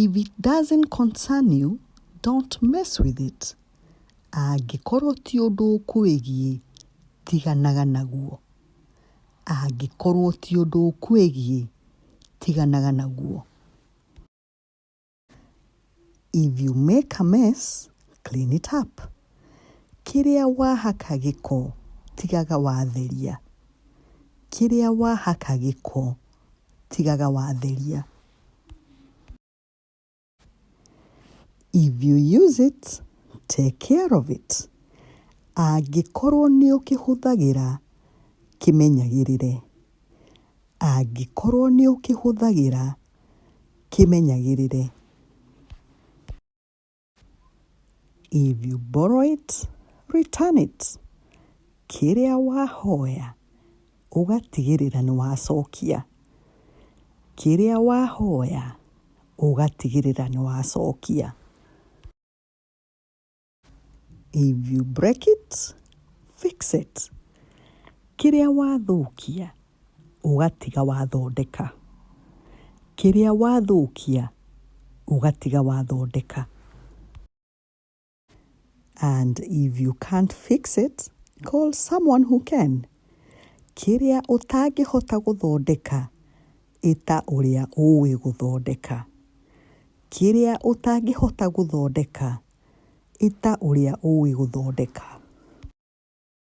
If it doesn't concern you, don't mess with it. Angĩkorwo ti ũndũ ũkwĩgiĩ, tiganaga naguo. Angĩkorwo ti ũndũ ũkwĩgiĩ, tiganaga naguo. If you make a mess, clean it up. Kĩrĩa wahaka gĩko, tigaga watheria. Kĩrĩa wahaka gĩko, tigaga watheria. If you use it, take care of it. Angĩkorwo nĩ ũkĩhũthagĩra kĩmenyagĩrĩre. Angĩkorwo nĩ ũkĩhũthagĩra kĩmenyagĩrĩre. If you borrow it, return it. Kĩrĩa wahoya, ũgatigĩrĩra nĩ wacokia. Kĩrĩa wahoya, ũgatigĩrĩra nĩ wacokia. If you break it, fix it. Kĩrĩa wathũkia, ũgatiga wathondeka, kĩrĩa wathũkia ũgatiga wathondeka and if you can't fix it call someone who can, kĩrĩa ũtangĩhota gũthondeka ĩta ũrĩa ũĩ gũthondeka, kĩrĩa ũtangĩhota gũthondeka ĩta ũrĩa ũĩ gũthondeka.